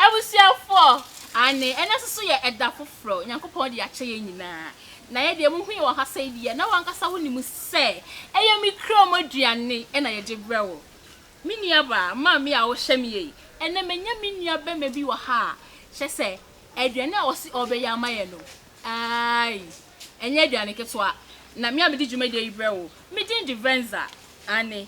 Abusuafoɔ, aane, ɛnnɛ nso so yɛ ɛda foforɔ, Nyankopɔn de akyɛ yɛn nyinaa, na yɛ deɛ mohu yɛ wɔ ha sɛi deɛ, na w'ankasa wo nim sɛ, ɛyɛ me kra mu aduane na yɛgye brɛ wo. Me nua baa, maame a wo hwɛ me yei, ɛnnɛ manya me nua bɛma bi wɔ ha a, kyerɛ sɛ, aduane a ɔse ɔbɛyɛ ama yɛn no, aai, ɛnyɛ aduane ketewa, na me a mede dwumadie yi brɛ wo, me din de Venza, aane,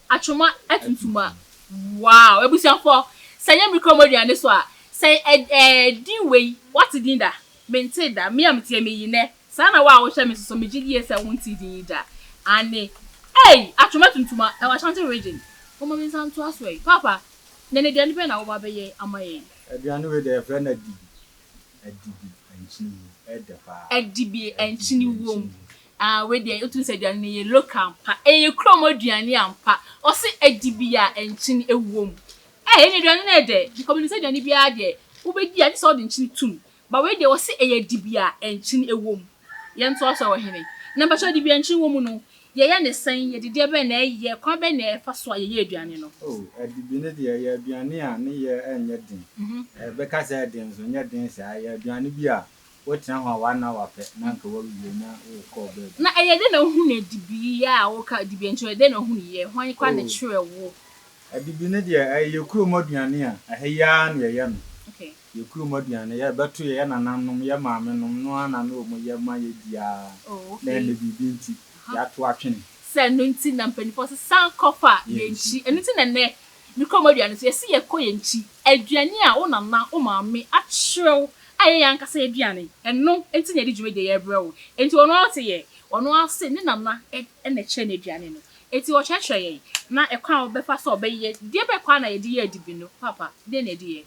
Atwoma atuntum a. Wow abusuafoɔ sɛ nyɛ me kura mo aduane so a sɛ ɛɛ din wei wate din da mentee da me a mete ha meyi nɛ saa na wo a wohwɛ me nso so megye die sɛ wontee din yi da aane ei atwoma atuntum a ɛwɔ Ashanti region momma me nsa nto aso ei paapa nnɛ no aduane bɛn na woba abɛyɛ ama yɛn. Aduane wei deɛ yɛfrɛ no adibi, adibi ankyini wom, ɛdɛ paa. Adibi ankyini wom, Ah wei deɛ wotumi sɛ aduane no yɛ local ampa ɛyɛ kurom aduane ampa ɔse adi bi a nkyene ɛwom eh ɛne aduane no yɛ dɛ because menim sɛ aduane biara deɛ wobɛdi a gye sɛ wode nkyene tom but wei deɛ ɔse ɛyɛ adi bi a nkyene ɛwom yɛntoa so wɔ hene na mpakyɛw adi bi a nkyene wɔ mu no yɛyɛ ne sɛn yɛde deɛ bɛn na ɛyɛ kwan bɛn na ɛfa so a yɛyɛ aduane no. Oh adi bi no deɛ ɛyɛ aduane a ne yɛ ɛnyɛ den ɛbɛka sɛ ɛden nso ɛnyɛ den saa ɛyɛ aduane bi a Wotena hɔ a w'anan wapɛ na anka w'awuo na wokɔɔ baabi. Na ɛyɛ dɛn na wohunu adibi yi a woka dibi nti ɔyɛ dɛn na ohunu yɛ? Hwan koraa na Oh. ɛkyerɛɛ wo? Adibi no deɛ ɛyɛ yɛ kurom aduane a ɛha yi ara na yɛyɛ no. Okay. Yɛ kurom aduane, yɛ bɛto yɛ nananom, yɛ maamenom no ara na na wɔn yɛ ma yɛ di ara. Oh, Na okay. ɛnnɛ biribi nti, Aha. yɛato atwene. Sɛ ɛno nti na mpaninfoɔ sɛ san kɔfa Yɛn yɛn nkyi. nkyi. Ɛno nti na ɛnnɛ Me kurom aduane nso, yɛse yɛkɔ yɛn nkyi. Aduane a wo nana, wo maame akyerɛ wo a ɛyɛ yɛn ankasa yɛn aduane, ɛno nti na yɛde dwumadie yi rebrɛ wo. Enti ɔno ara te yɛn. Ɔno ara se ne nana na ɛkyerɛ no aduane no. Enti ɔkyerɛkyerɛ yɛn. Na ɛkwan a wɔbɛfa so a wɔbɛyɛ, deɛ bɛn kwan na yɛde yɛ adibi no, Paapa, deɛn na yɛde yɛ?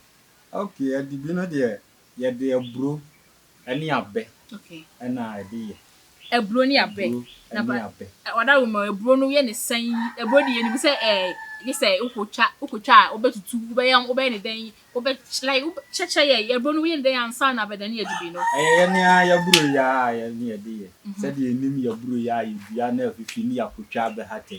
Okay, adibi no deɛ, Yɛde aburo ne abɛ na ɛde yɛ. Aburo ne abɛ. Aburo ne abɛ. Ɔda wo ma aburo no yɛ ne sɛn? Aburo deɛ yɛnim sɛ ɛɛ gye sɛ wokɔtwa wokɔtwa a wobɛtutu wobɛyɛ wobɛyɛ ne dɛn wobɛ like kyɛkyɛ yɛ aburo no woyɛ ne dɛn ansa na abɛdane adubi no. Ɛyɛ yɛ ne ara yɛaburo yɛ a yɛ ne yɛde yɛ sɛdeɛ yɛnim yɛaburo yɛ a yɛdua na afifi ne yɛakɔtwa abɛhatɛ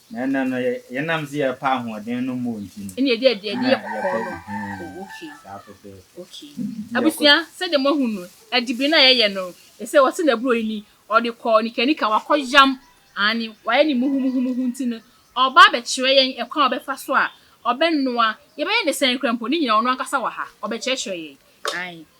Na ɛnnɛ no, yɛnam sɛ yɛrepa ahoɔden no mmɔɔ nti no. Ɛnna yɛde aduane yɛ kɔkɔɔ no. Oh, okay. Saa fɛfɛɛfɛ. Okay. Abusua, sɛdeɛ moahu no, adibiri no a yɛyɛ no, ɛsɛ wɔte no aburo yi ni, ɔde kɔ nikanika, wakɔyam, aane, wayɛ no muhumuhumuhu nti no, ɔreba abɛkyerɛ yɛn ɛkwan a ɔbɛfa so a ɔbɛnoa, yɛbɛyɛ no sɛn koraa mpo, ne nyinaa ɔno ankasa wɔ ha, ɔbɛkyerɛkyerɛ yɛn. Aane.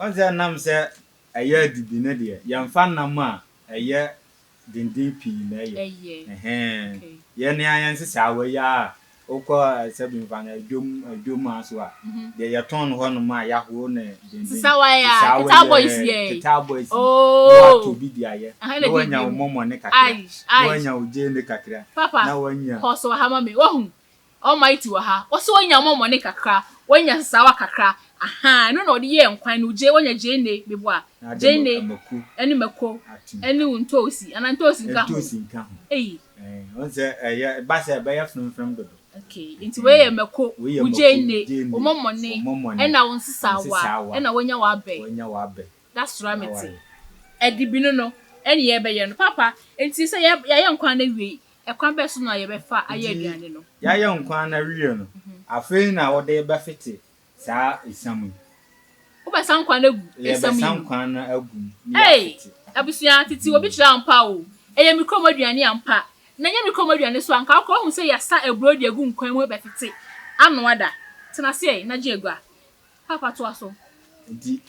Ɔn sɛ nam sɛ ɛyɛ adidi no deɛ yɛnfa nam a ɛyɛ denden pii na ɛyɛ ɛhɛn yɛ ne ayɛ nsesaawa yi aa wokɔ sɛbi nfa no adwom adwom aa so a deɛ yɛtɔn no hɔ nom a yahoro no denden nsesaawa yɛ ketaa boys yɛ ketaa boys yɛ na watɔ bi de ayɛ na wanya wo mɔmɔ ne kakra na wanya wo gyeene kakra na wanya kɔ so ha ma me wahu Almighty wɔ ha, ɔsɛ wanya amɔmɔne kakra, wanya sasaawa kakra, ahaa, ɛno na ɔde yɛɛ nkwan no, gye, wanya gyeene, meboa, gyeene, ɛne mako, ɛne wo ntoosi, anaa ntoosi nka ho, ei. Ɛɛ, ɔn sɛ ɛyɛ, ɛba sɛ ɛbɛyɛ frɛmfrɛm dodo. Okay, nti wei yɛ mako, wo gyeene, wo mɔmɔne, ɛna wo nsesaawa, ɛna wanya w'abɛ. Da sora me te. Adibino no, ɛne yɛbɛyɛ no. Papa, enti sɛ yɛ, yɛayɛ nkwan no awie, ɛkwan bɛn so na yɛbɛfa ayɛ Enti aduane no? yɛayɛ nkwan no awie no, afei na wode bɛfete saa esiam yi. Wobɛsa nkwan no agu esiam yi Yɛbɛsa mu. nkwan no agu mu na Ei! yɛafete. Abusua, tete obi kyerɛ ampa o. Ɛyɛ me kurom aduane ampa. Na ɛnyɛ me kurom aduane nso a, anka wokora woahu sɛ yɛasa aburo de agu nkwan mu rebɛfete, anoa da. Tena ase ɛ, na gye agua. Paapa toa so. Nti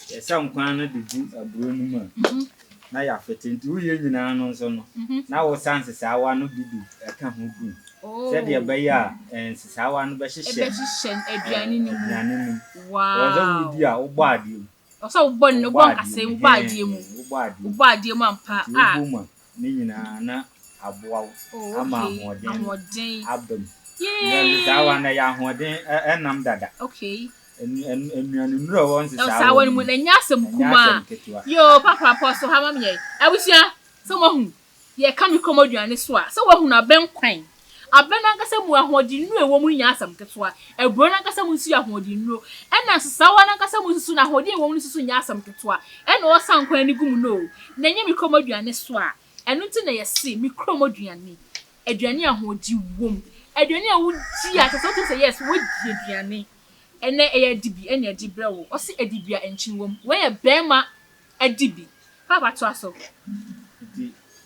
yɛsa nkwan no de gu aburo no mu a, na yɛafete. Nti woyɛ nyinaa no nso no, na wosa nsesaawa no bi de ka ho gu mu sɛdeɛ ɛbɛyɛ a nsesaawa no bɛhyehyɛ aduane no mu. Ɛwɔ sɛ wodi a wobɔ adeɛ mu. Ɛwɔ sɛ wobɔ adeɛ mu. Wobɔ adeɛ mu ampa. Nti wobɔ mu a. Ne nyinaa na aboa wo ama ahoɔden no aba mu. Nsesaawa no, ɛyɛ ahoɔden nam dada. Nnuanennuro a ɛwɔ nsesaawa no mu no, ɛnyɛ asɛm ketewa. Yoo, papa apɔ so ha ma me ɛ. Abusua, sɛ moahu deɛ ɛka me kɔm aduane so a, sɛ woahunu abɛn kwan Abɛ no ankasa mu ahoɔdennuro a ɛwɔ mu no nyɛ asɛm ketewa. Aburoo no ankasa mu nso yɛ ahoɔdennuro. Ɛnna nsesawa no ankasa mu nso, n'ahoɔden a ɛwɔ mu no nso nyɛ asɛm ketewa. Ɛnna ɔresan kwan no gu mu no o, na ɛnyɛ me kurom aduane so a. Ɛno nti na yɛse, me kurom aduane, aduane a ahoɔden wom, aduane a wodi a kyerɛ sɛ wotumi sɛ yes, woadi aduane. Ɛnnɛ ɛyɛ adibi na ɛde brɛ wo. Wɔse adibi a nkyene wom. Wei yɛ barima adibi. Paapa toa so.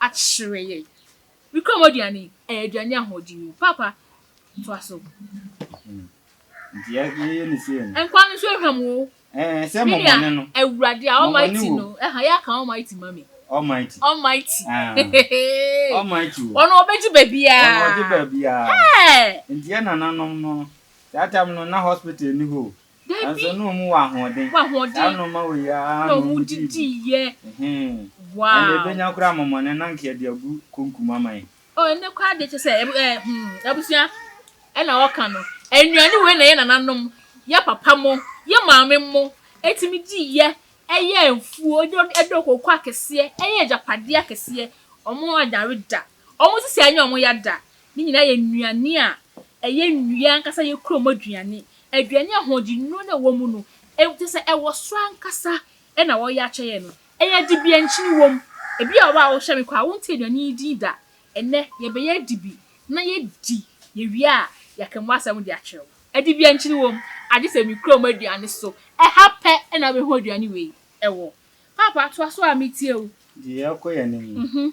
akyerɛ yɛn. Wikurom aduane ɛyɛ aduane ahoɔden o papa toa so. Nti yɛ yɛyɛ ne sei no. Nkwa no nso ehwam o. Ɛɛ sɛ mɔmɔne no. Menua awurade a almighty no ɛha yɛ aka almighty ma me. Almighty. Almighty heheheee. Almighty o. Ɔno ɔbɛgye baabiaa. Ɔno ɔgye baabiaa. Hɛɛ. Nti yɛ nananom no that time no na hospital ni hɔ o. Nanso na wɔwɔ ahoɔden. Saa ara na wɔma wɔ yie ara na wɔdidi diiɛ. Ɛnna ɛbɛnya koraa amɔmɔne na anka yɛde agu konkum ama yɛn. Oh ɛnɛ koraa deɛ kyɛ sɛ hmm abusua ɛna wɔka no. Nnuane wei na yɛ nananom, yɛ papa mo, yɛ maame mo ɛtumi diiɛ ɛyɛ mfuo ɛdɔ kooko akɛseɛ ɛyɛ agyapadeɛ akɛseɛ. Wɔn adware da. Wɔn sisi a ɛnyɛ wɔn ya da no nyinaa yɛ nnuane a ɛyɛ nnua ankasa, ɛyɛ kurom aduane, aduane a ahoɔdennuro no a ɛwɔ mu no, kyerɛ sɛ ɛwɔ soro ankasa na wɔyɛ akyɛ yɛn no. Ɛyɛ dibi a nkyene wom. Ebi wɔ hɔ a wohwɛ me koraa a, wontee aduane yi din da. Ɛnnɛ, yɛbɛyɛ adibi na yɛadi, yɛwie a, yɛaka mu asɛm de akyerɛ wo. Adibi a nkyene wom, agye sɛ me kurom aduane so, ɛha pɛ na wobɛhu aduane wei wɔ. Paapa, toa so ara, metie wo. Deɛ yɛrekɔ yɛn anim no,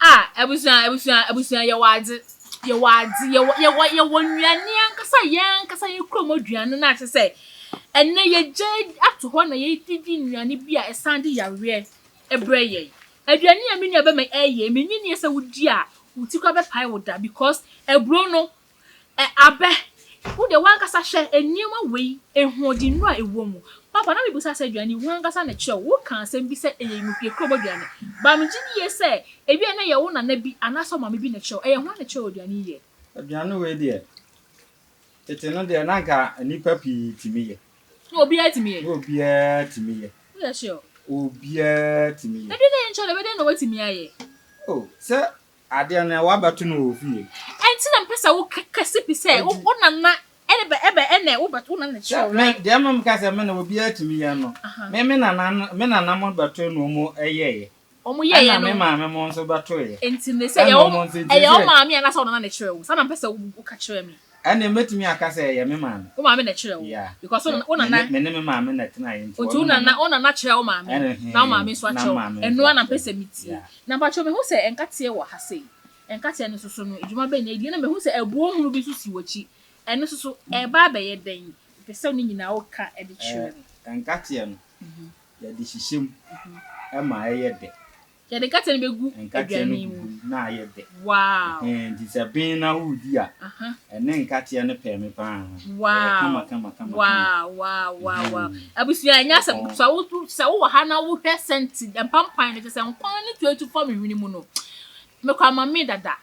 Ah abusua abusua abusua yɛwɔ adze yɛwɔ adze yɛwɔ yɛwɔ yɛwɔ nnuane ankasa yɛn ankasa yɛn kurom aduane no a kyerɛ sɛ ɛnɛ yɛgya ato hɔ na yɛdidi nnuane bi a ɛsan de yareɛ ɛbrɛ yɛn aduane a me nua bɛma ɛyɛ menni nie sɛ wodi a wo ti koraa bɛpae wo da because aburo no Ɛ abɛ, wo deɛ w'ankasa hwɛ nneɛma wei ahoɔdennuro a ɛwɔ mu. Papa, na mebisa sɛ aduane yi, w'ankasa na ɛkyerɛ wo. Wokaa asɛm bi sɛ ɛyɛ nnukuekurobo aduane. But megye die sɛ ebia na ɛyɛ wo nana bi anaasɛ wo maame bi na ɛkyerɛ wo. Ɛyɛ hwan na ɛkyerɛ wo aduane yi yɛ? Aduane wei deɛ, tete no deɛ, na anka nnipa pii tumi yɛ. Na obiara tumi yɛ? Na obiara tumi yɛ. Woyɛ sure? Obiara tumi yɛ. Ɛdeɛ na ɛnkyerɛ dɛ, ɛbɛyɛ dɛn na woatumi ayɛ? Oh, sɛ Adeɛ no ɛ wabɛto no wɔ fie. Ɛnti na mpɛ sɛ wo kɛ kɛse pi sɛ wo wo nana ɛne bɛ ɛbɛ ɛnɛ wo bɛto wo nana kyerɛ wo. Mɛ deɛ mɛ meka sɛ mɛ na obi atumi yɛ no mɛ me nana no me nana mo bɛto na ɔmo ɛyɛɛyɛ. Ɔmo yɛɛyɛ no. Ɛna me maame mo nso bɛtoeɛ. Ɛnti ne sɛ ɛyɛ ɔmo ɛyɛ ɔmaame anaasɛ ɔnana na ɛkyerɛ wo saa na mpɛ sɛ wo ka kyerɛ me. Ɛnneɛ mɛtumi aka sɛ ɛyɛ me maame. Wo maame na ɛkyerɛɛ wo? Yeah. Because wo, wo nana. Me ne me maame na ɛtenaeɛ nti. Nti wo nana, wo nana kyerɛɛ wo maame. Ɛne he. Na wo maame nso akyerɛ wo. Ɛno ara na mpɛ sɛ metie. Yeah. Na mpakyɛw mehu sɛ nkateɛ wɔ ha sei. Nkateɛ no nso so no, adwuma bɛn na ɛdi? Ɛnna mehu sɛ ɛboɔ hunu bi nso si w'akyi. Ɛno nso so, ɛreba abɛyɛ dɛn? Mepɛ sɛ ne nyinaa woka de kyerɛ me. Eh, nkateɛ no, yɛde hyehyɛ mu ma ɛyɛ dɛ. Yɛde nkate no bɛgu aduane no mu. na ayɛ dɛ. Wow. Ɛhɛn, nti sɛ ben na woredi a, ɛne nkateɛ no pɛɛ me paa. Ɛyɛ kama kama kama. Wow, wow, wow, wow. Abusua, ɛnyɛ asɛm ketewa. Wo, wo, sɛ wowɔ ha na wohwɛ sɛnti mpampan no, kyɛ sɛ nkwan no tuatu fa me hwene mu no, mekora mame dada.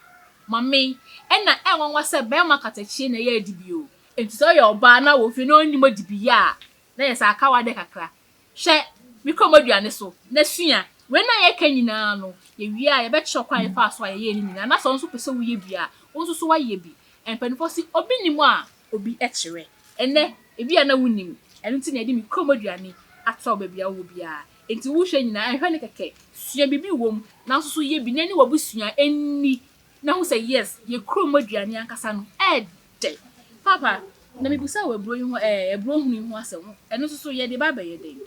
Mame, ɛna ɛnwanwa sɛ bɛrima katakyie na ɛyɛ adibie o. Nti sɛ ɔyɛ ɔbaa na wɔ fie na ɔnnim adibiyɛ a, na yɛ sɛ aka wo adeɛ kakra. Hwɛ me kɔmmɔdua no so na sua. Wei no a yɛreka nyinaa no, yɛwie a, yɛbɛkyerɛ kwan a yɛfaa so a yɛyɛɛ ne nyinaa. Na sɛ wo nso wopɛ sɛ woyɛ bi a, wo nso so woayɛ bi. Mpanimfoɔ se, obi nim a, obi kyerɛ. Ɛnnɛ, ebia na wonim. Ɛno nti na yɛde me kɔmmɔdua no ato wo baabi a wowɔ biara. Enti wohwɛ nyinaa, nhwɛ no kɛkɛ. Sua biribi wom, na wo nso so yɛ bi, na ɛne w'abusua nni, na hu sɛ, yes, yɛ kɔmmɔdua no ankasa no ɛrede. Dɛn? Paapa, na mebisa wo aburo yi ho ɛ, aburo hunu yi ho asɛm. Ɛno nso so, yɛde ba abɛyɛ dɛn?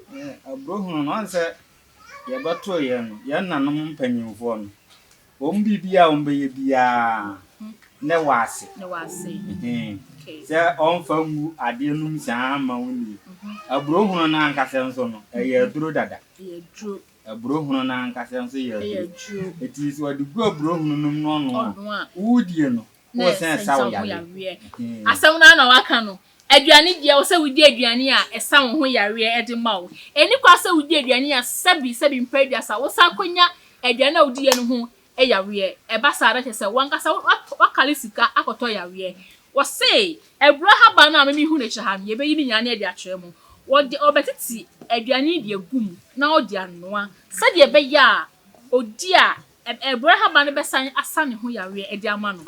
Aburo hunu no, ɔn sɛ yɛbɛtoo yɛn no, yɛn nanom mpanyimfoɔ no, wɔn biribiara a wɔbɛyɛ biara, ne wɔ ase. Ne wɔ ase. Ɛhee. Sɛ ɔmfa ngu adeɛ nom saa mma wo nie. Aburo hunu no ankasa nso no, ɛyɛ aduro dada. Ɛyɛ aduro. Aburo hunu no ankasa nso yɛ aduro. Ɛyɛ aduro. Ɛti sɛ wɔde gu aburo hunu nom na ɔnoa a, wodie no, na ɛnsa wo ho yareɛ. Asɛm no ara na waka no. Aduane deɛ, ɛwɔ sɛ wodi aduane a ɛsa wo ho yareɛ de ma wo. Ɛnni kwan sɛ wodi aduane a sɛbi sɛbi mprɛ aduasa wosan akɔnya aduane a wodiiɛ no ho yareɛ. Ɛba saa a, na kyerɛ sɛ w'ankasa woakale sika akɔtɔ yareɛ. Wɔse abura haban no a me mehu no akyire ha no, yɛbɛyi ne nyinaa na yɛde akyerɛ mo. Wɔde wɔbɛtete aduane yi de agu mu na wode anoa sɛdeɛ ɛbɛyɛ a odi a Ɛbrɛ haba no bɛsan asa ne ho yareɛ de ama no.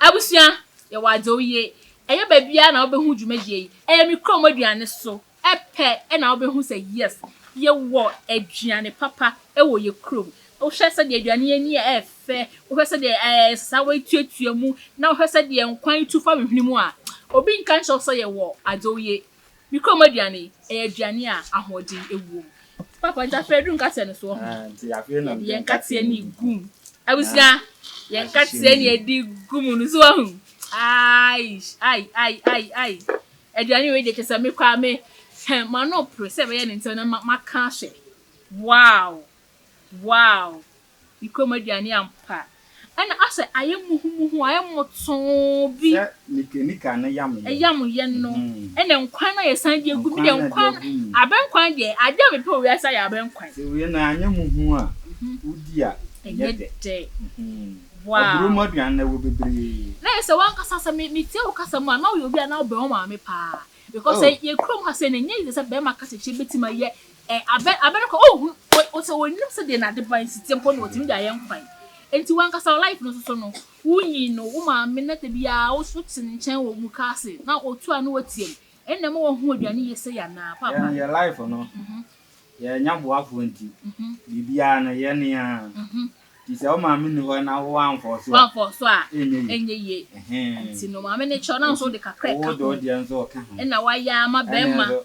Abusua, yɛwɔ adwo yie. Ɛnyɛ baabiara na wobɛhu dwumadie yi. Ɛyɛ me kurom aduane so pɛ na wobɛhu sɛ yes, yɛwɔ aduane papa wɔ yɛn kurom. Wohwɛ sɛdeɛ aduane yi ani yɛ fɛ, wohwɛ sɛdeɛ ɛsesa woatuatua mu, na wohwɛ sɛdeɛ nkwan tu fa wo hwene mu a, obi nka nkyerɛ wo sɛ yɛwɔ adwo yie. Me krom aduane yi, ɛyɛ aduane a ahoɔden wom. Papa, nti afei aduru nkateɛ no so wɔ ho. Yɛde yɛn nkateɛ no regum. Abusua, yɛn nkateɛ na yɛde regum no so wɔ ho. Aish, ai, ai, ai, ai. Aduane wei deɛ kyɛ sɛ me koraa me, hɛ, m'ano pere sɛ ɛbɛyɛ ne ntɛm na maka ahwɛ. Wow! Wow! Ne kurom aduane ampa. Ɛna asɛ ayɛ muhumuhu, ayɛ mmotoo bi. Sɛ mekanika no yam yɛn. Yam yɛn no. Ɛna nkwan no ayɛ san de agu mu. Nkwan no de agu mu. Abɛnkwan deɛ, adeɛ a mepɛ wɔ wiase ayɛ abɛnkwan. Sɛ wei na anyɛ muhumuhu a, wodi a, ɛnyɛ dɛ. Ɛnyɛ dɛ. Wow. Aburo mu aduane no, ɛwɔ bebree. Na ayɛ sɛ w'ankasa, sɛ metie wo kasa mu a, na woyɛ obi a na wobɛn wo maame paa. Because sɛ yɛn kurom ha sei no, ɛnyɛ easy sɛ barima kasakyerɛ bɛtumi ayɛ Ɛ, abɛ, aber kor, oh, hu, o, o, sɛ onyim sɛ dɛn na adeban si tse mpo na otumi dze ayɛ nkwan. Ntsi wankasa wo life no soso no, wunyin no, wo maame na da biara wo, wotse ne nkyɛn wɔ mukaase na otu ano otsia mu, nna ma wɔho eduane yie sei anaa, paapa? Yɛn, yɛn life no, mhm. yɛnnya boafoɔ nti, mhm. biribiara no yɛn ne yɛn ara. Mhm. Nti sɛ wo maame ni hɔ na wo amfɔɔ so a, amfɔɔ so a, ɛnyɛ yie. Nti no maame ne kyɛw na nso de kakra ɛka ho. Wo de wo deɛ nso ɔka ho. Ɛna wayɛ ama bɛrima.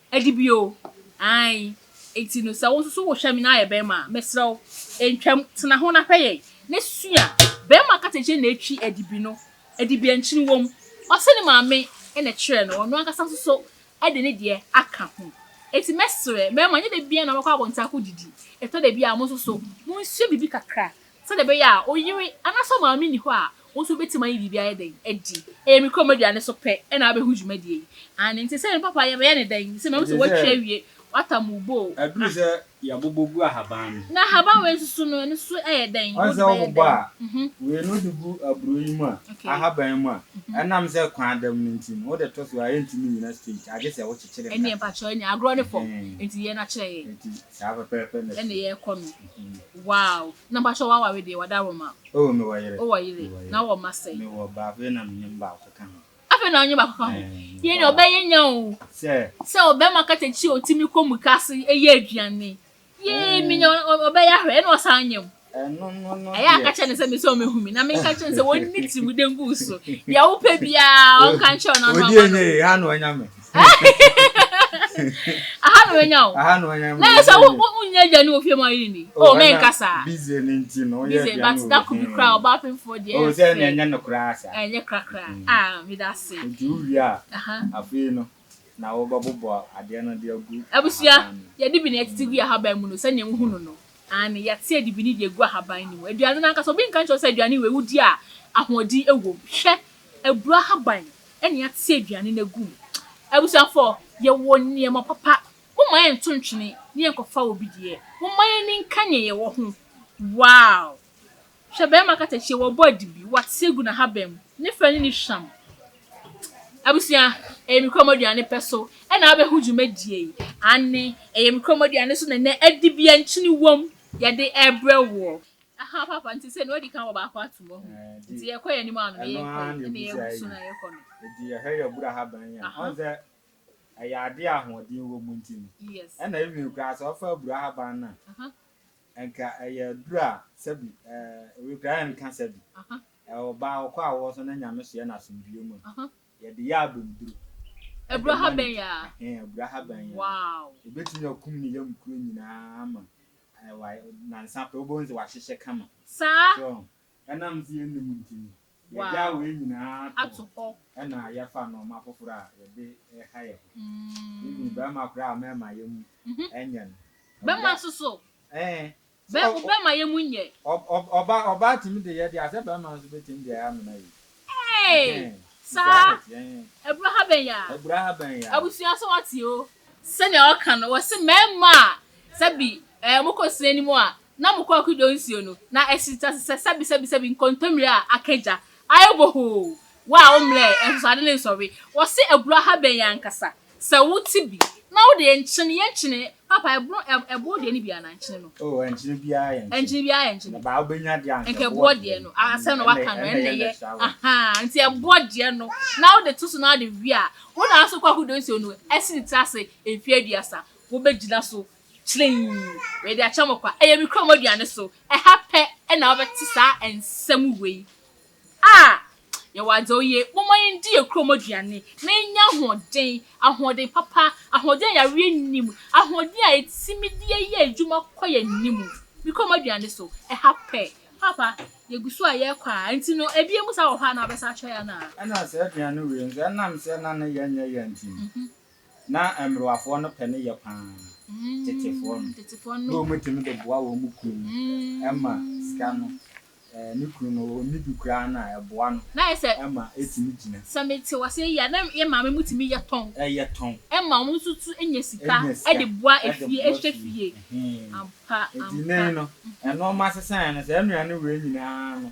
Adi bio, aane, enti no sɛ wo nso so wo hwɛ me na ayɛ barima a, mesrɛ wo, ntwam, tena ho na hwɛ yɛn, na sua, barima kasa nkyerɛ na ɛtwi adibi no, adibi a nkyene wɔ mu, ɔse ne maame na ɛkyerɛɛ no, ɔno ankasa nso so de ne deɛ aka ho, enti mɛsrɛ, mmarima, nyɛ da biara na mobɛkɔ abɔnten akɔ didi, ɛtɔ da bi a mo nso so, monsua biribi kakra, Sɛdeɛ ɛbɛyɛ a ɔyere anaasɛ ɔmaame nni hɔ a, wo nso wobɛtumi ayi biribi ayɛ dɛn? Adi. Ɛyɛ me kurom aduane so pɛ na wabɛhu dwumadie yi. Aane, nti sɛ me papa yɛbɛyɛ no dɛn? Sɛ mahu sɛ woatwi awie, woatam wo bo o, Aduru na. sɛ yɛabobɔ gu ahaban no. Na ahaban wei nso so no, ɛno nso so yɛ dɛn? Ɔn sɛ Wode bɛyɛ wobobɔ a, dɛn? Mhm. wei no wode gu aburo yi mu a, Ok. ahaban yi mu a, Mhm. ɛnam sɛ kwan dam no nti no, wode to so a, ɛntumi nnyina straight, agye sɛ wokyekyere no Ɛnneɛ kakra. mpakyɛw, ɛnneɛ agorɔ no fam, Ɛhɛn. nti yɛ no akyerɛ yɛn. Nti Saa pɛpɛɛpɛ na ɛnna yɛkɔ no wow na bakyɛ waware deɛ wada roma oh me wɔ yere wowɔ yere na wɔ ma sɛn me wɔ baako yɛ na menyam baako ka ho afei na ɔnye baako ka ho yɛ ne ɔbɛyɛ nya o sɛ sɛ ɔbɛma katakyi a ɔtumi kɔ mu kase ɛyɛ aduane yee menya ɔbɛyɛ ahwɛ ɛna ɔsan nyam ɛyɛ aka kyerɛ ne sɛ mesɛ ɔmɛhu me na menka kyerɛ ne sɛ wɔnni tirim de ngu so deɛ wopɛ biaa ɔnka nkyerɛ no ano ama no aha na wanya me aha na wanya wo aha na wanya me na yɛ sɛ wonyɛ aduane wɔ fie ma ɔyere ni o oh, menka saa busy ne nti no woyɛ aduane but da ko bi koraa ɔba apemfoɔ deɛ ɛyɛ oh, sɛ ɛnyɛ no koraa sa ɛnyɛ korakora mm. ah meda se nti wowie a afei no na wɔbɛbobɔ adeɛ no de agu Abusua, ahaban no mu. yɛde bi na yɛtete gu ahaban mu no, sɛdeɛ wohu no no. Aane, yɛte adibini de agu ahaban no mu. Aduane no ankasa, obi nka nkyerɛ wo sɛ aduane wei wodi a ahoɔden wɔ mu. Hwɛ, aburo ahaban na yɛate aduane no agu mu. Abusuafoɔ, yɛwɔ nneɛma papa. Momma yɛnto ntwene na yɛnkɔfa obi deɛ. Momma yɛn ani nka nea yɛwɔ ho. Wow! Hwɛ bɛɛma katakyie wɔbɔ adibi wɔasesɛ gu nahaban mu ne fɛ ne ne hwam abusua ɛyɛ me kurom aduane pɛ so ɛna abɛho dwumadie yi aane ɛyɛ me kurom aduane so na nɛ adibia nkyene wom yɛde ɛbrɛ woɔ. Ahaa papa nti sɛ nea odi kan wɔ baako atom wahu nti yɛkɔ yɛn anim ano na yɛnkɔ yi ɛna yɛgu so na yɛkɔ no. Ɛdi ɛhɛ yɛ abura haban yi a ɔhu sɛ ɛyɛ adeɛ ahoɔden wɔ mu nti no ɛna ɛwini koraa sɛ ɔfa abura haban no a Nka ɛyɛ aduru a sɛbi ɛɛ kura yɛn ka sɛbi ɛwɔ baa wɔkɔ a wɔsɔ na nyame so yɛ na asomdwie mu a yɛde yɛ abɛmduru ɛbura ha bɛn yɛ a ɛɛ ɛbura ha bɛn yɛ a ɛbɛtumi akum ne yam kuro nyinaa ama ɛɛ wa nansa pɛ wobɛhu sɛ wahyehyɛ kama saa. Ɛnam sɛ yennim nti no, yɛagyaw wei nyinaa ato hɔ na yɛfa nnoɔma foforo a yɛde reha yɛn ho. Even bɛrima koraa a mɛmma yɛn mu nyɛ no. Bɛmma nso so? Ɛɛ. Bɛ wo bɛmma yɛn mu nyɛ? Ɔ ɔ ɔbaa ɔbaa tumi de yɛ deɛ a, sɛ bɛrima nso bɛtumi de ayɛ amena yie. Ɛɛe! Saa? Abura ha bɛn ya? Abura ha bɛn ya? Abusua sɛ wɔte o. Sɛnea wɔka no, wɔse mɛmma a sɛbi ɛɛ wɔkɔ sini anim a na mokɔɔ Kidon Nsuo no, na ɛsesɛsesɛ sɛbesɛbesɛbi nkontommire a aka gya, ayɛ bohoo, wo a wommrɛɛ ahosade ne nsɔhwe, wɔse aburo ahaban yi ankasa, sɛ wote bi, na wode yɛ nkyene, yɛ nkyene, papa, ɛbono, ɛboɔ deɛ no bi anaa nkyene no? Oh, ɛnkyene biara yɛ nkyene. Ɛnkyene biara yɛ nkyene. Na baa wobɛnya deɛ anka ɛboɔ deɛ no, asɛm na waka no, ɛnna ɛyɛ, ahaa, nti ɛboɔ deɛ no, na wode to so na wode we a, wo na nso kɔɔ Kidon Nsuo no, ɛse tena ase mfeɛ aduasa, wobɛgyina so, Kyinii, mede akyɛ mo kwa. Ɛyɛ me kurom aduane so. Ɛha pɛ na wobɛte saa nsɛm wei. Ah! Yɛwɔ adze a oye. Momma yendi yɛn kurom aduane na yɛnya ahoɔden, ahoɔden papa, ahoɔden a yareɛ nnim, ahoɔden a yɛtumi de yɛ adwuma kɔ yɛn anim. Me kurom aduane so. Ɛha pɛ. Paapa, yɛgu so a yɛrekɔ a, nti no, ebien mu saa wɔ hɔ a na wobɛsan akyerɛ yɛn anaa? Ɛna saa aduane wei nso, ɛnam sɛ na ne yɛ nyɛ yɛ nti no, Na mmerewafoɔ no pɛ no yɛ pa ara tetefoɔ no, na wɔtumi de boa wɔn kunu no ma sika no, ne kunu no ɔnni bi koraa no a, ɛboa no ma ɛtumi gyina. Sɛ mete wo aseɛ yie a, na yɛn maame mo tumi yɛ tɔn, ma wɔn nso tu nya sika de boa efie, hwɛ fie. Ampa, ampa. Nti nnɛ yi no, nnoɔma sesaeɛ no, saa nnuane wei nyinaa no,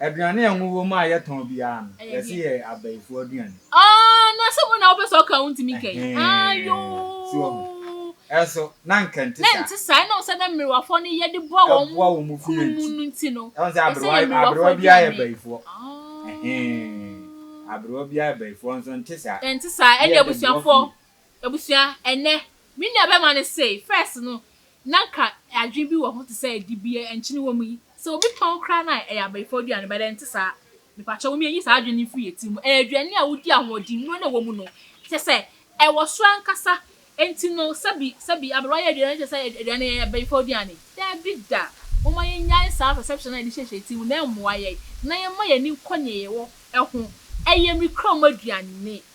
Aduane a ngo wɔ mu a yɛtɔn biara no, yɛse yɛ abayifoɔ aduane. Aah na sɛ wo na wopɛ sɛ ɔka a wontumi nka yi? Aayoo. Ɛnso na nka nte saa. Na nte saa, ɛnam sɛ na mmerewafoɔ no yɛde boa wɔn kunu mu no nti no, ɛsɛ yɛ mmerewafoɔ aduane. Aah. Aberewa biara yɛ bayifoɔ nso nte saa. Ɛnte saa, ɛne abusuafoɔ. Abusua, ɛnnɛ, me nua bɛma no se, first no, na nka adwene bi wɔ ho te sɛ dibea nkyene wɔ mu yi, sɛ obi tɔn koraa no a, ɛyɛ abayifoɔ aduane, but ɛnte saa. Mepakyɛ wo mmea nyi saa adwene no mfiri yɛ tiri mu, ɛyɛ aduane a wodi ahoɔden nnuro na ɛwɔ mu no, kyɛ sɛ, ɛwɔ soro ankasa, enti no, sɛbi, sɛbi, aberewa yɛ aduane no kyɛ sɛ aduane no yɛ abayifoɔ aduane. Dabi da, momma yɛnnyae saa perception no a yɛde hyehyɛ yɛ tiri mu na ɛmmoa yɛn, na yɛmma yɛn ani nkɔ nea yɛwɔ ho, ɛyɛ me kura mu aduane.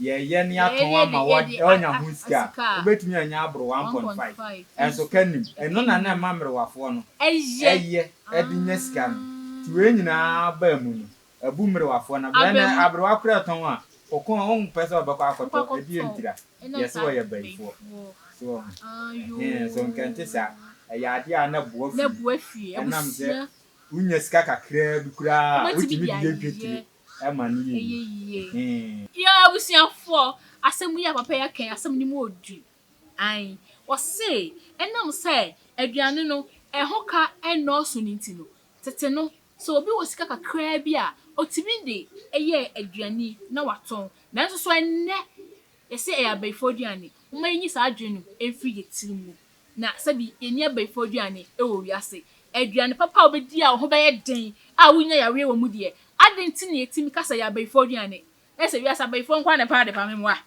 Yɛyɛ ne atɔn ama wo de anya ho sika a, wobɛtumi anya aboro one point five. Ɛnso ka nim, ɛno na na ɛma mmerewafoɔ no yɛ de nya sika no. Nti wei nyinaa baa mu no, abu mmerewafoɔ no aba. Ɛnnɛ aberewa koraa tɔn a, kɔkɔɔ a ɔmpɛ sɛ ɔbɛkɔ akɔtɔ ɛdeɛ ntira. Yɛse wɔyɛ bayifoɔ. So woahu? Ɛhee, nso nka ɛnte saa. Ɛyɛ adeɛ a na ɛboa fie. Ɛnam sɛ wonya sika kakraa bi koraa a, wotumi de yɛ dwetire. ɛyɛ yie. Yoo abusuafoɔ asɛm yi a papa yi aka yi asɛm no mu yɛ du ae ɔse ɛnam sɛ aduane no ɛho ka ɛnnɔɔso no nti no tete no sɛ obi wɔ sika kakraa bi a ɔtumi de yɛ aduane na watɔn nanso so ɛnnɛ yɛse ɛyɛ abayifoɔ aduane momma yɛnyi saa adwene no mfiri yɛn tiri mu. Na sɛbi yɛnni abayifoɔ aduane wɔ wiase, aduane papa a wobɛdi a wo ho bɛyɛ den a worennya yareɛ wɔ mu deɛ, adɛn nti na yɛtumi ka sɛ ɛyɛ abayifoɔ aduane? Ayɛ sɛ wiase abayifoɔ nko ara na ɛpɛ adepa? Me mmoa,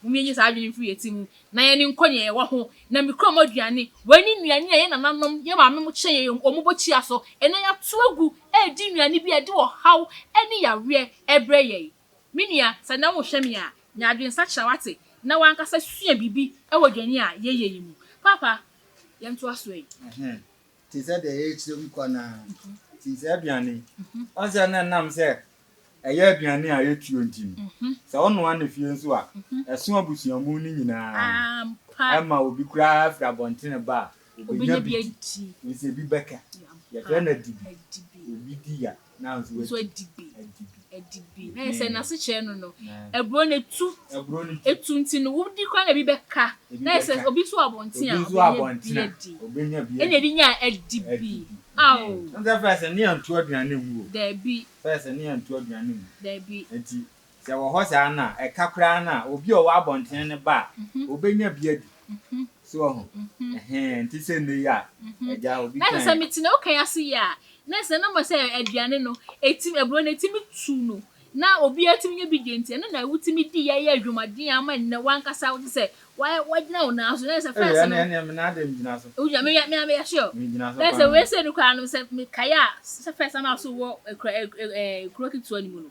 mom yɛnyi saa adwene mfiri yɛn ti mu na yɛne nkɔ nea yɛwɔ ho. Na me kurom aduane, wei ne nnuane a yɛn nananom, yɛn maame mo kyerɛ yɛn wɔn bɔ kyia so. Ɛnnɛ yɛato agu redi nnuane bi a ɛde ɔhaw ne yareɛ brɛ yɛn. Me nua, sɛ nnɛ worehwɛ me a, nya adwensakyera wate, na w'ankasa sua biribi wɔ dwani a yɛyɛ yi mu. Paapa, yɛntoa so ɛ. Ɛhɛɛ, te sɛ deɛ yɛrekyerɛ mu kɔ no ara nti, sɛ aduane, woahu sɛ na ɛnam sɛ ɛyɛ aduane a ɛtuo nti no, sɛ wonoa no fie nso a, ɛso abusuamu no nyinaa, ɛma obi koraa firi abɔntene ba a, ɔbɛnya bi di. Wohu sɛ ebi bɛka, yɛfrɛ no adibi, obi di a, nso adi bi, adi bi. Na yɛ sɛ n'ase kyerɛ no no, aburo no etu, etu nti no, wodi koraa na ebi bɛka. Na yɛ sɛ obi nso wɔ abɔnten a, obenya bi adi. Ɛna ebi nya adi bi. Ao! Dabi. Dabi. Sɛ ɛwɔ hɔ saa no a, ɛka koraa no a, obi a ɔwɔ abɔnten no ba a, obenya bi adi. So wahu? Ɛhɛn, ɛnte sɛ nnɛ yi a, agya, obi Na kyɛ sɛ kan. mete ne wokan ase yi a, na sɛ na mmom sɛ aduane no, ɛtim, aburo no ɛtumi tu no, na obiara tumi nya bi di nti, ɛno na wotumi di yɛ yɛ adwumaden ama nnɛ w'ankasa wote sɛ wa, wagyina wo nan so, na sɛ Ɛyɛ, fɛs ɛne, no, ɛne, me nan deɛ megyina so. wogyina, me, me, me, yɛhye o. Megyina so Na sɛ paa. wei sei no koraa no, sɛ mekae a, sɛ fɛs na m'aso wɔ ɛkura, ɛ, ɛ, ɛ, kuro ketewa no mu no,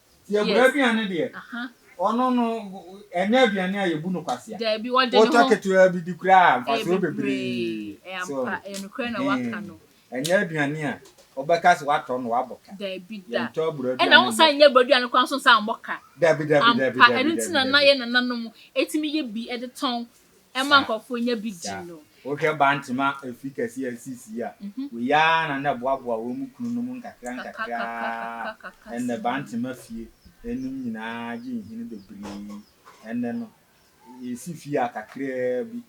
Yɛbrɛ aduane deɛ, ɔno no ɛnyɛ aduane a yɛbu no kwasea. Daabi, ɔde ne ho. Wotɔ ketewaa bi di koraa a, mfasoɔ bebree. So, ɛnyɛ aduane a wobɛka sɛ watɔ no wabɔ ka. Daabi da. Yɛntɔ aburo aduane. Ɛna wosan nyɛ aburo aduane koraa nso nsa mmɔ ka. Daabi, daabi, daabi, daabi. Ampa, ɛno nti na na yɛn nananom ɛtumi yɛ bi ɛde tɔn ɛma nkurɔfoɔ nya bi di no. Wohwɛ Bantama afi kɛseɛ a ɛsii sii a, wei ara na na ɛboaboa wɔn mu kununom nkakra nkakra ara. Ɛnnɛ, Bantama fie anim nyinaa gye nhini bebree. Ɛnnɛ no, yɛsi fie a kakraa bi.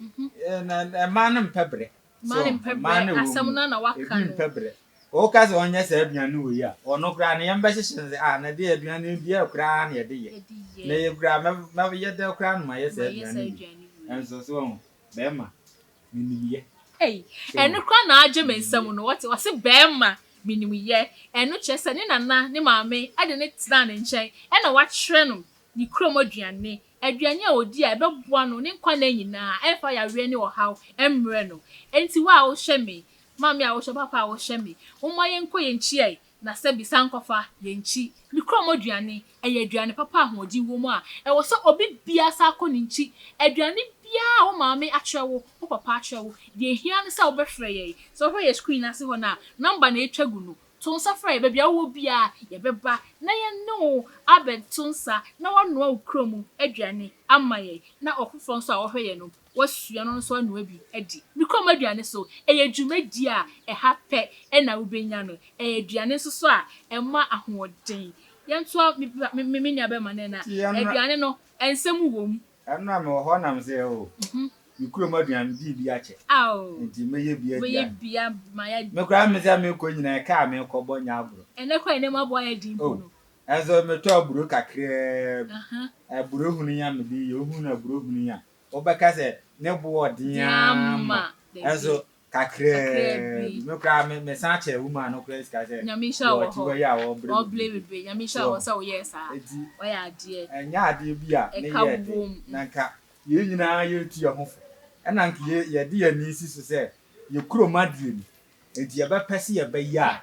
Ɛɛ, na mmaa no mpɛ brɛ. Mmaa no mpɛ brɛ, asɛm no a na waka no. Ebi mpɛ brɛ. Woka sɛ ɔnyɛ saa aduane no wɔ yi a, ɔno koraa no yɛn bɛhyehyɛ no sɛ, ah, na ɛdeɛ aduane no bi ɛ koraa na yɛde yɛ. Na yɛ koraa, mɛyɛ dɛ koraa na mayɛ saa aduane yi bi. Nso so wɔn, bɛrima, menim yɛ. Ei, ɛno koraa na agye me nsam no, wɔte, ɔse bɛrima, menim yɛ. Ɛno kyerɛ sɛ ne nana, ne maame, de no tenaa ne nkyɛn, ɛna wakyerɛ no ne kurom aduane, Aduane a odi a ɛbɛboa no ne nkwa nna nyinaa, a ɛmfa yareɛ ne ɔhaw mmrɛ no. Enti wo a wohwɛ me, maame a wohwɛ, papa a wohwɛ me, momma yɛnkɔ yɛn nkyi ɛ, na sɛbi, san kɔfa yɛn nkyi. Mekura mo aduane. Ɛyɛ aduane papa a ahoɔden wɔ mu a ɛwɔ sɛ obi biara san kɔ ne nkyi. Aduane biara a wo maame akyerɛ wo, wo papa akyerɛ wo, deɛ ɛhia ne sɛ wobɛfrɛ yɛn. Sɛ wohwɛ yɛn screen no ase hɔ no a, number na atwa gu no. To nsa frɛ yɛn. Baabi a wowɔ biara, yɛbɛba na yɛne wo abɛto nsa na woanoa wo kura mu aduane ama yɛn, na ɔfoforɔ nso a ɔhwɛ yɛn no, wasua no nso anoa bi adi. Ne kurom aduane so, ɛyɛ dwumadie a ɛha pɛ na wobɛnya no. Ɛyɛ aduane nso so a ɛma ahoɔden. Yɛntoa, me nuabɛma no ɛna. Aduane no, nsɛm wom, Ɛno a mewɔ hɔ nam sɛ o me kurom aduan me dii bi akyɛ nti mɛyɛ bi aduan me koraa me sɛ mekɔ nyina ɛka a mekɔ bɔ nyɛ aburo ɛnɛ koraa ɛnɛ mu aboa yɛ din po no ɛnso metɔ aburo kakraa bi aburo hunu ya mede yɛ ohunu aburo hunu ya wobɛka sɛ ne boɔ ɔden ama ɛnso kakraa bi me koraa me me san kyɛ woman no koraa sika sɛ nyame nhyira wɔ hɔ wɔ yi a wɔbrɛ wɔbrɛ bebree nyame nhyira wɔ sɛ woyɛ saa eti ɔyɛ adeɛ ɛnyɛ adeɛ bi a ne yɛ de na nka yɛn nyinaa yɛtu yɛn ho fo ɛna nka yɛde yɛn ani si so sɛ yɛ kurom adeɛ no eti yɛbɛpɛ sɛ yɛbɛyɛ a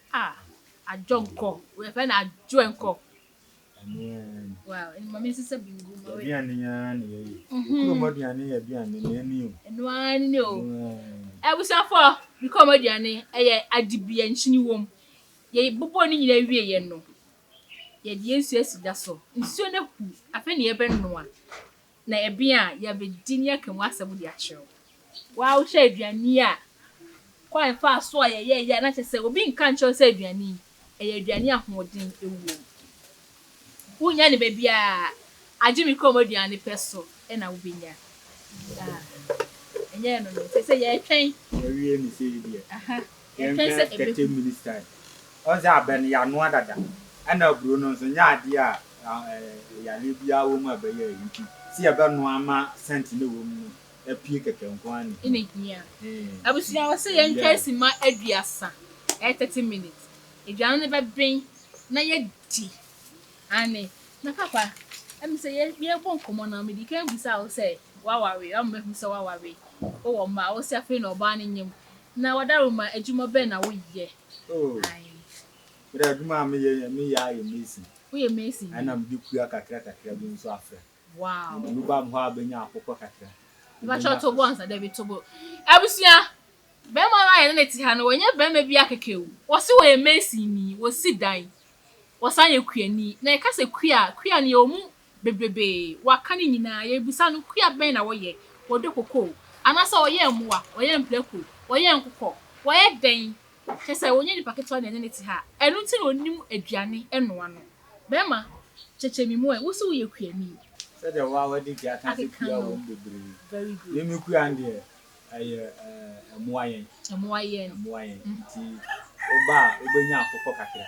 Ah adwonkɔ yɛfrɛ no adwonkɔ. Wow maame nsesa bingu ma wei. Aduane yi ara na yɛyɛ. Kurom aduane yɛ aduane na ɛni o. Ɛno ara ne ne o. Abusuafo me kurom aduane ɛyɛ adibia nkyini wom. Yɛbobɔ ne nyinaa wie yɛ no yɛde yɛn nsuo asi da so. Nsuo no ahu afei na yɛbɛnoa. Na ebia yɛabedi ne aka mu asɛm de akyerɛ wo. Waa wohwɛ aduane yi a, kwan faa so a yɛyɛeɛ a na kyerɛ sɛ obi nka nkyerɛ wo sɛ aduane yi, ɛyɛ aduane a ahoɔden wom. Wonnya no baabiara, agye me kurom aduane pɛ so na wobɛnya. Ah, ɛnyɛ ɛno no, ɛsɛ sɛ yɛtwɛn. Yɛawie no sei deɛ. Aha. Yɛnhwɛ sɛ ɛbɛhu. Ɔdze abɛn yɛ anoa dada. Nna aburo no nso nnyɛ adeɛ a yareɛ biara wɔ mu a ɛbɛyɛ a nti sɛ yɛbɛnoa ama scent no a ɛwɔ mu no apue kɛkɛ nko ara na ɛhia. Ɛna ɛhia. Abusua ɛwɔ sɛ yɛntwɛn simma aduasa, ɛyɛ thirty minutes, aduane no bɛben na yɛadi. Aane. Na papa, ɛm sɛ yɛrebɔ nkɔmmɔ no mede kan bisa wo sɛ woaware, ama mahu sɛ woaware, wowɔ mma, wose afei na ɔbaa no nyem Na wadaroma adwuma bɛn na woyɛ? Oh, me deɛ adwuma a meyɛ yɛ meyɛ ara yɛ mason. Woyɛ mason bi? Ɛna mede kua kakra kakra bi nso afra. Wow. Mede bi bam hɔ a bɛnya akokɔ kakra. Mepakyɛw to bo ansa, dabi to bo. Abusua, barima no a yɛne no te ha no, wanyɛ barima biara kɛkɛ o. Wɔse wɔyɛ mason ni, wɔsi dan, wɔsan yɛ kuani. Na yɛka sɛ kua a, kua no yɛwɔ mu bebrebe waka ne nyinaa yɛbisa no kua bɛn na wɔyɛ wɔdɔ kokoo anaasɛ wɔyɛ mmoa wɔyɛ mprako wɔyɛ nkokɔ wɔyɛ dɛn kyɛsɛ wɔnyɛ nipa ketewa na ɛne ne te ha ɛno nti na ɔnim aduane ɛnoa no bɛɛma kyɛkyɛ me mu ɛ wo se woyɛ kuani sɛdeɛ wo a wadi ka aka sɛ kua wɔ mu bebree me me kua no deɛ ɛyɛ ɛmoa yɛn ɛmoa yɛn nti woba a wobɛnya akokɔ kakra.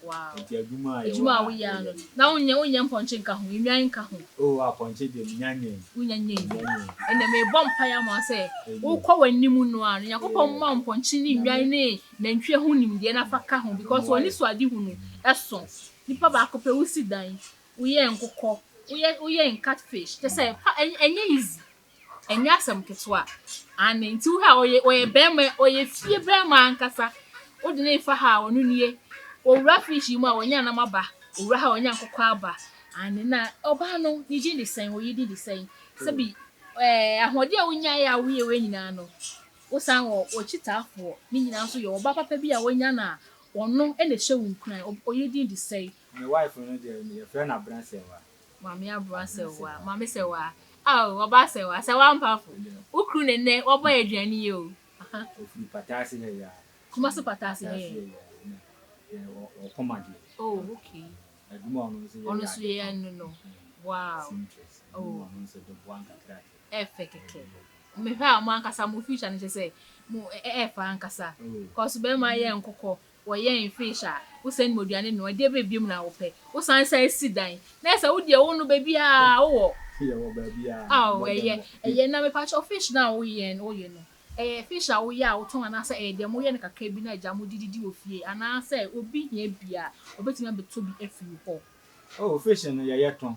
Wow. Nti adwuma a yɛwɔ Adwuma a ha woyɛ ano. yɛ. Na wonyɛ wonyɛ mpɔnkye nka ho, nnwan nka ho. Oh apɔnkye deɛ menya nyɛ yi. Wonya nyɛ yi. Menya nyɛ yi. Ɛnna mebɔ mpaeɛ ama wo sɛ Amen. wokɔ w'anim no ara no, Nyankopɔn mma wo mpɔnkye ne nnwan Amen. ne nantwie ho nimdeɛ na fa ka ho because Mmoa yɛ. w'anisoadehu no ɛso. Yes. Nipa baako pɛ, wosi dan, woyɛ nkokɔ, woyɛ woyɛ catfish, kyerɛ sɛ pa ɛnyɛ ɛnyɛ easy. ɛnyɛ asɛm ketewa. Aane, nti wohwɛ a ɔyɛ ɔyɛ bɛɛma ɔyɛ fie bɛɛma ankasa wode no refa ha a ɔno nie owura fridge yi mu a wanya nam aba owura ha a wanya nkokɔ aba aane na ɔbaa no ne din de sɛn oyi din de sɛn sɛbi ɛɛ ahoɔden a wonyaeɛ a woyɛ wei nyinaa no wosan wɔ wɔkyitaafoɔ ne nyinaa nso yɛ ɔbaa papa bi a wanya no a ɔno ɛna ɛhyɛ wo nkuran oyi din de sɛn. Me wife no deɛ yɛfrɛ no Abrasɛwa. Maame aboa sɛwaa. Maame sɛwaa, Ao ɔbaa sɛwaa, sɛwaa mpafo, Wo kuru no nnɛ wabɔ yɛn aduane yi o, aha. Ɔfiri Pataase ha yi ara. Kumasi Pataase ha yi. Ɔkɔma deɛ. Oh okay. Adwuma a ɔno nso yɛ yɛ adepa. Ɔno nso yɛ ɛno no, wow. Seamstress, ɛno na ɔno nso de boa nkakra kɛ. Ɛfɛ kɛkɛ. Mehwɛ a mo ankasa mo future no kyerɛ sɛ mo ɛɛfɛ ankasa. Cos bɛɛma yɛ nkokɔ, Wɔyɛ infesh a, wo sɛn ma oduane no, ɛdeɛ bɛ biom na wo pɛ, wo san san si dan, na yɛ sɛ wo deɛ wo no bɛbiaa wo wɔ. Yɛ wɔ bɛbiaa. Aw ɛyɛ, ɛyɛ, na me pakyɛw fish no a wo yɛn, wo yɛ no, ɛyɛ fish a wo yɛ a wo tɔn anaa sɛ ɛyɛ deɛ mo yɛ no kakra bi na agya mo de didi wɔ fie anaa sɛ obi hia bi a, ɔbɛtumi abɛtɔ bi afiri wo hɔ. Oh fish no yɛ yɛ tɔn,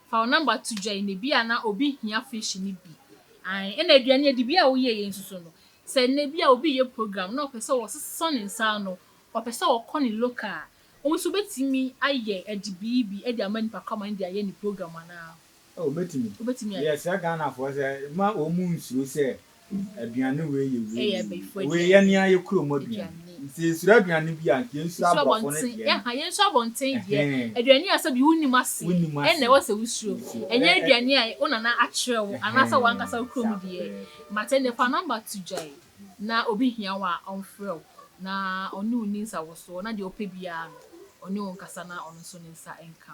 Fa wo number to dwa yi na ebia na obi hia fish no bi ae ɛna aduane adibea a woyɛ yɛ nso so no sɛ ɛna ebia obi yɛ program na ɔpɛ sɛ wɔsesa ne nsa ano ɔpɛ sɛ ɔkɔ ne local a wɔn nso bɛtumi ayɛ ɛde bii bi ɛde ama nipa kraman de ayɛ ne program anaa? Oh, obetumi. Obetumi ayɛ. Yɛsrɛ Ghanafoɔ sɛ ma wɔn mu nsuro sɛ Aduane wei yɛ wei yɛ wei. Wei yɛ nea yɛ kurom aduane. Nti yɛnsuro aduane bi a nka yɛnsuro aborɔfo no deɛ no. Yɛnsuro abɔnten deɛ. Aduane a sɛbi wonim ase ɛna ɛwɔ sɛ wosuro. Ɛnyɛ aduane a wo nana akyerɛ wo anaasɛ w'ankasa wo kurom deɛ. Mate nne, fa number to gyae na obi hia wo a ɔmfrɛ wo na ɔne wo nni nsawosoɔ na deɛ ɔpɛ biara no ɔne wo nkasa na ɔno nso ne nsa nka.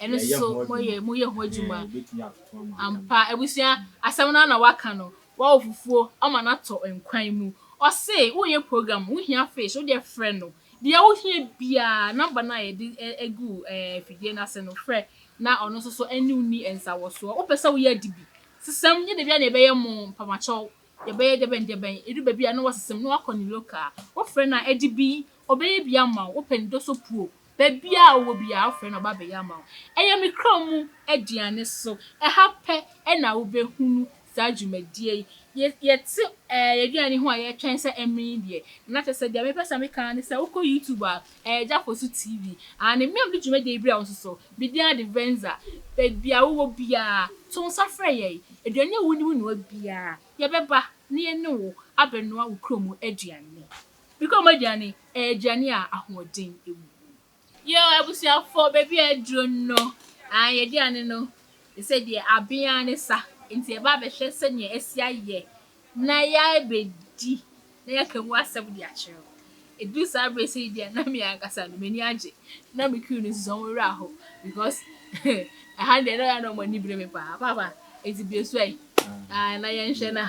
Ɛno nso moyɛ moyɛ ho adwuma. Ampa, abusua, asɛm no ara na waka no. Wawo fufuo ama no atɔ nkwan mu. Ɔse woyɛ program, wohia fish, wodeɛ frɛ no. Deɛ wohia biara, number no a yɛde agu afidie no ase no, frɛ na ɔno nso so ɛne wo nni nsawɔsoɔ. Wopɛ sɛ woyɛ ade bi, sesam, nyɛ dabiara na yɛbɛyɛ mo mpamakyɛw, yɛbɛyɛ dɛbɛn dɛbɛn, ɛdu baabi a na wasesam, na wakɔ ne local. Wofrɛ no a, ade bi, ɔbɛyɛ bi ama wo. Wopɛ ne dosopuo, Baabi a ɔwɔ biara, wofrɛ no ɔba abɛyɛ ama wo. Ɛyɛ me kra mu aduane so. Ɛha pɛ na wobɛhunu saa dwumadie yi. Yɛ, yɛte ɛɛ yɛn aduane yi ho a yɛtwɛn sɛ ɛmmene yi deɛ. Na kyerɛ sɛ, deɛ mepɛ sɛ meka ara ne sɛ, wokɔ YouTube a, ɛyɛ Gya Fosu TV. Aane, me a mede dwumadie yi brɛ wo nso so, me din ade Venza. Baabi a wowɔ biara, to nsa frɛ yɛn. Aduane a wonim noa biara, yɛbɛba na yɛne wo abɛnoa wo kra mu aduane. Meka wɔn aduane, ɛyɛ aduane a ahoɔden wɔ mu. Yɛ abusuafoɔ, baabi a aduro no, aah, yɛaduane no, te sɛ deɛ aben ara ne sa, nti yɛba abɛhwɛ sɛdeɛ asi ayɛ na yɛabɛdi na yɛaka mu asɛm de akyerɛ wo. Ɛduru saa berɛ sei deɛ na me ankasa no m'ani agye, na me crew no nso wɔn werɛ aho because ɛha deɛ na wɔn ani bere me paa, Papa, nti bue so ɛ, aah, na yɛnhwɛ na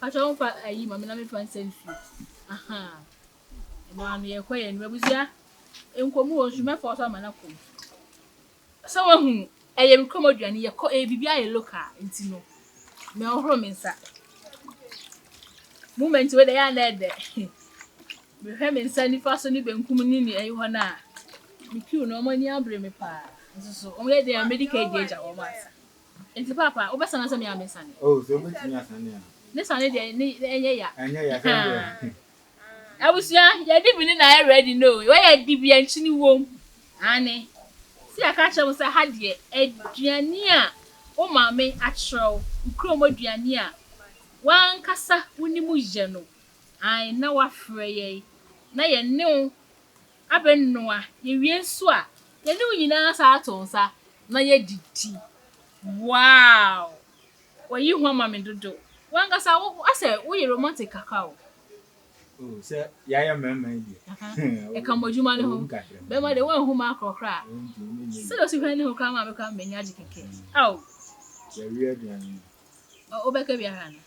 Pakyɛw wo mfa ayi ma me na me mfa nsa nsu ahaa ɛno ano yɛ kɔ yɛ no abusua nkomu wɔ nsu mɛfɔ so ama na kɔ nsu sɛ wahunu ɛyɛ me kɔm aduane yɛ kɔ ɛyɛ biribi ayɛ loka nti no mɛ ɔhoro me nsa moment wei dɛ yɛ anɛ dɛ mehwɛ me nsa nifa so ne benkum ne ne ɛyi hɔ no a me kiw no ɔmo ani abere me paa nso so ɔmo yɛ dɛ a medika adi agya wɔn asa Nti paapa wo bɛ sane ansa me a me sane. Oh sɛ obe tumi asane a. Ne sane deɛ ne ɛnyɛ ya. Ɛnyɛ ya sɛ deɛ. Abusua yɛ di bi ne na yɛ ready no o wɔ yɛ di bi yɛ nkyene wom aane se yɛ ka kyerɛ mo sɛ ha deɛ aduane a wo maame akyerɛ wo wo krom aduane a wankasa wo nim yɛ no aane na wa frɛ yɛn na yɛ ne wo Abɛnoa, yɛwie nso a, yɛne wo nyinaa san ato nsa na yɛadidi. Wow! W'ayi hua ma me dodo. W'ankasa wo asɛ woyɛ romantic kakra o. Oh, sɛ yɛayɛ mmarima yi deɛ. Aha, ɛka mo adwuma no ho. Ɛwom kakra. Bɛrima deɛ woanhu m'akorɔ koraa. Ɛnti wo ne nyɛ Sɛdeɛ osi hwɛ ne ho koraa maa me koraa m'ani agye kɛkɛ. Ao! Yɛawie aduane no. Ɔ, wobɛka bi ahwɛ anaa?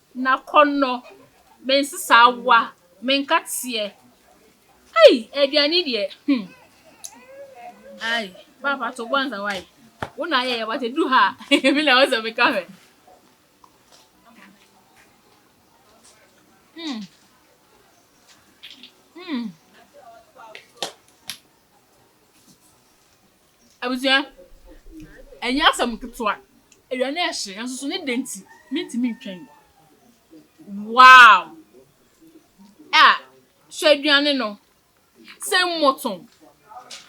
Na kɔ no mensesa awa menka teɛ ei aduane deɛ hmm ai papa to bɔ ansa wai wo na ayɛ yɛ but edu ha me na ɔsɛ meka hwɛ hmm hmm. Abusua, ɛnyɛ asɛm ketewa. Awia no rehye, nanso so ne dɛ nti, mintumi ntwɛn. Wow! Ah, hwɛ aduane no. Sɛ mmɔto,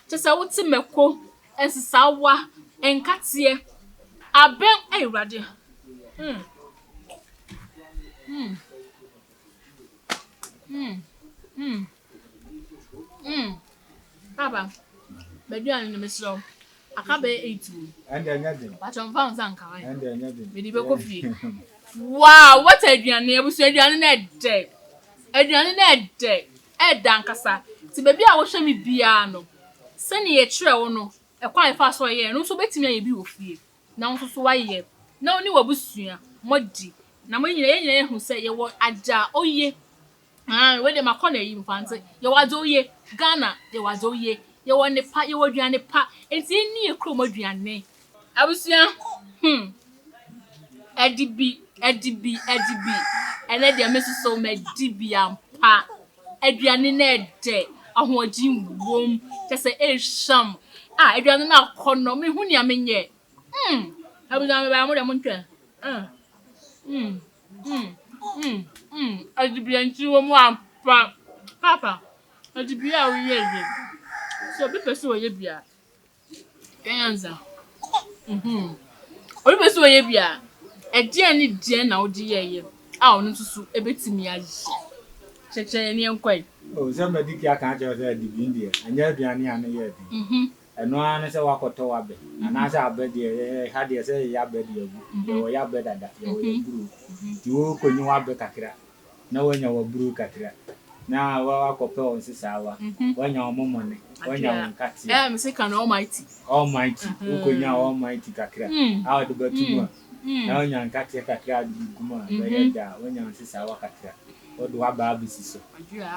kyerɛ sɛ wote mako, nsesaawa, nkateɛ, abɛn, ei Awurade. Mm. Mm. Mm. Mm. Mm, papa, bɛdua no no mesrɛ wo, aka bɛyɛ eight o. Ɛnde ɛnyɛ den. Bàtɔ nfa wo nsa nka hwan. Ɛnde ɛnyɛ den. Mede bɛkɔ fie. Wow, what aduane, abusua aduane na ɛdɛ. Aduane na ɛdɛ, ɛdɛ ankasa. Ti baabi a wohwɛ me biara no, sɛnea yɛkyerɛ wo no, ɛkwan a yɛfa so yɛ no nso wobɛtumi ayɛ bi wɔ fie. Na wo nso so woayɛ, na wo ne w'abusua moadi. Na mo nyinaa, yɛn nyinaa yɛhu sɛ yɛwɔ agya a oye. Aane wei deɛ makɔ no ayi mfantse yɛwɔ adze oye Ghana yɛwɔ adze oye yɛwɔ nnepa yɛwɔ aduane pa enti enni yɛ kurom aduane. Abusua hmm ɛdi bi ɛdi bi ɛdi bi ɛnɛ deɛ me nso so mɛdi bi ampa aduane no ɛdɛ ahoɔdyen wom kyɛ sɛ ehwam ah aduane no akɔnɔ menhu nea menyɛ hmm abusua mebaeɛ mo deɛ montwɛn ah hmm. Mm mm mm adibea nti wɔ mu ampa papa adibea a woyɛ ye sɛ obi pɛ sɛ ɔyɛ bi a yɛ nyansa mm obi pɛ sɛ ɔyɛ bi a ɛdeɛn ne deɛn na wode yɛ ye a ɔno nso so ɛbɛtumi ayɛ kyɛkyɛ yɛne yɛnkɔ yi. Oh sɛ mɛdi kia ka akyerɛ sɛ adibea deɛ ɛnyɛ aduane a ne yɛ den mm Ɛno ara ne sɛ woakɔtɔ w'abɛ anaasɛ abɛ deɛ yɛ ha deɛ sɛ yɛyɛ abɛ de agu, yɛwɔ yɛ abɛ dada, yɛwɔ yɛ aburow nti worekɔnyi w'abɛ kakra na woanya w'aburow kakra na woakɔpɛ wɔn nsesaawa, woanya wɔn mmɔne, woanya wɔn nkateɛ, Almighty, wokɔnyaa Almighty kakra a wode bɛto mu a, na woanya nkateɛ kakra a wode bɛgu mu a, bɛyɛ dɛ a, woanya nsesaawa kakra, wode w'abɛ abɛsi so,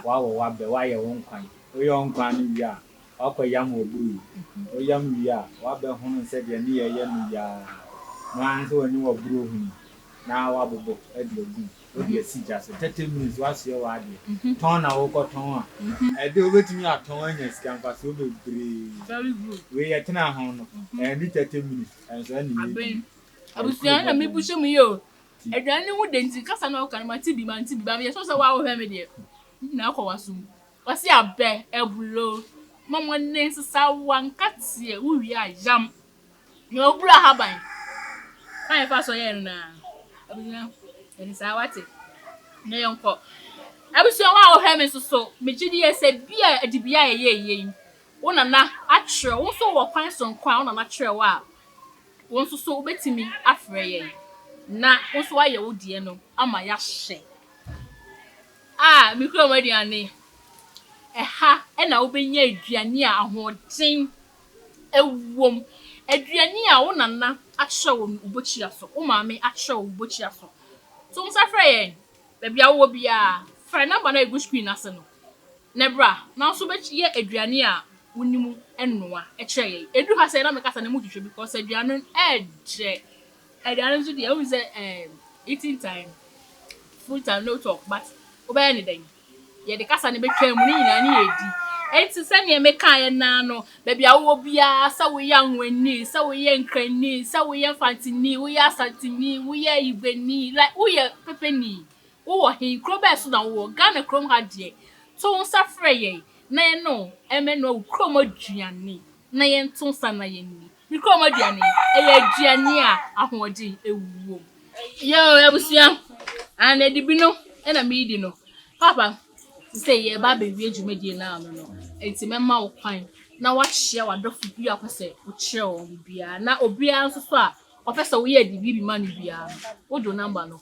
woawɔ w'abɛ, woayɛ wo nkwan, woyɛ wo nkwan no wie a, Ɔakɔyam ɔbor yi. Ɔyam wie a, ɔabɛhon nsɛdeɛ ne yɛɛ yɛ no yi ara. No ara ne sɛ ɔnye w'ɔbor ohun na ɔabobɔ de agu mu. Ɔde asi gya so. Thirty minutes, woasoɛ w'adeɛ. Tɔn na worekɔtɔn a, ɛde wobɛtumi atɔn anya sika mfasoɔ bebree. Wei yɛtenaa ho no, ɛnni thirty minutes, ɛnsoɛ ne yɛɛ bi. Abusua na mebusua mu yie o. Aduane no ho dɛ nti, kasa na ɔka no, mate bi, mante bi, but meyɛ sure sɛ wo a wohwɛ me deɛ, ne nyinaa kɔ w'asom. Ɔse abɛ abulo ma mo nne nsesa wa nka teɛ wo wie a yam na ɔburo ahaban kwan yɛfa so yɛ no na abusua ɛne saa wate na yɛn kɔ abusua wa ɔhwɛ me soso me gye die sɛ bi a adibia a ɛyɛ yie yi wo nana akyerɛ wo nso wɔ kwan so nko a wo nana akyerɛ wo a wo nso so wobɛtumi afrɛ yɛn na wo nso ayɛ wo deɛ no ama yɛahyɛ A mikura wɔn aduane. Ɛha na wobenya aduane a ahoɔden wom, aduane a wo nana akyerɛ wo no wo bokyia so, wo maame akyerɛ wo wo bokyia so. So wo nsa frɛ yɛn? Baabi a wowɔ biara, frɛ number no a egu screen no ase no na bra na wo nso bɛyɛ aduane a wonim noa kyerɛ yɛn. Edu ha sɛɛ na meka sɛ na motwitwa because aduane no ɛɛdɛ. Aduane nso deɛ wohu sɛ ɛɛm eating time food time no talk but wobɛyɛ ne dɛn yɛde kasa no bɛtwa mu ne nyinaa ne yɛdi ɛnti sɛdeɛ mekaeɛ naa no baabi a wowɔ biara sɛ woyɛ anwani sɛ woyɛ nkrani sɛ woyɛ mfantini woyɛ asantini woyɛ igwani like woyɛ pepeni wowɔ he kuro bɛɛ so na wowɔ Ghana kurom ha deɛ to nsa frɛ yɛn na yɛne wo ɛmɛnoa wo kurom aduane na yɛnto nsa na yɛnni Me kurom aduane, ɛyɛ aduane a ahoɔden wom. Yɛn abusua, anadwo bi no na meredi no, Papa sɛ yɛreba abɛwie dwumadie no ano no, nti mɛma wo kwan na woakyia w'adɔfo bi a wopɛ sɛ wokyerɛ wɔn biribiara na obiara nso so a ɔpɛ sɛ woyɛ de biribi ma no biara no, wode wo nɔmba no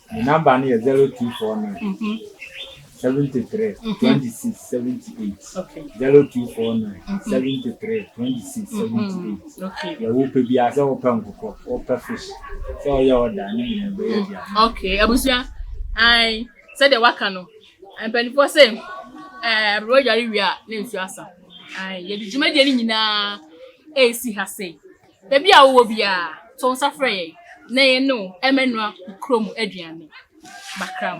Me number no yɛ zero two four nine seventy three twenty six seventy eight zero two four nine seventy three twenty six seventy eight yɛ wopɛ bi a sɛ wopɛ nkokɔ wopɛ fish sɛ ɔyɛ ɔda ne nyina bɛyɛ bia. ok abusua an sɛdeɛ waka no mpanimfoɔ sɛ ɛɛ aberewa dware wie a na nsuo asa an yɛde dwumadie no nyinaa ɛresi ha sei Baabi a wowɔ biara, to nsa frɛ yɛn na yɛne wo mmɛnoa wo kurom aduane. Bakram.